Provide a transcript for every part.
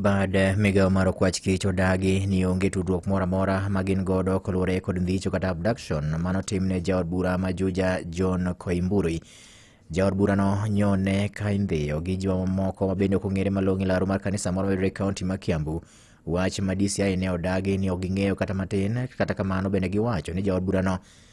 bad migawo mar okwach kich odagi ni onge tudruok moro amora ma gin godo koluwore kod ndhicho kata abduction mano timne jaod bura ma juja john koimburi jaod burano nyone ka indhiyo gi jomamoko ma bende ok ong'ere malong'o e laro mar kanisa moro mayudore e kaonti ma kiambu wach ma dci ne odagi ni ok ging'eyo kata matin kata kamano bende giwacho ni jaod burano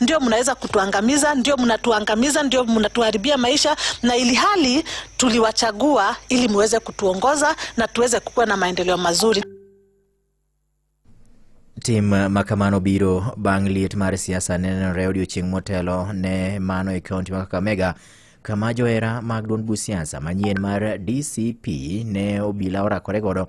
ndio mnaweza kutuangamiza, ndio mnatuangamiza, ndio mnatuharibia maisha, na ili hali tuliwachagua ili muweze kutuongoza na tuweze kukuwa na maendeleo mazuri. Tim makamano biro bang' liet mar siasa nenore odiochieng' motelo ne mano e kaunti ma Kakamega kama johera mag duond buch siasa manyien mar DCP ne obila orakore godo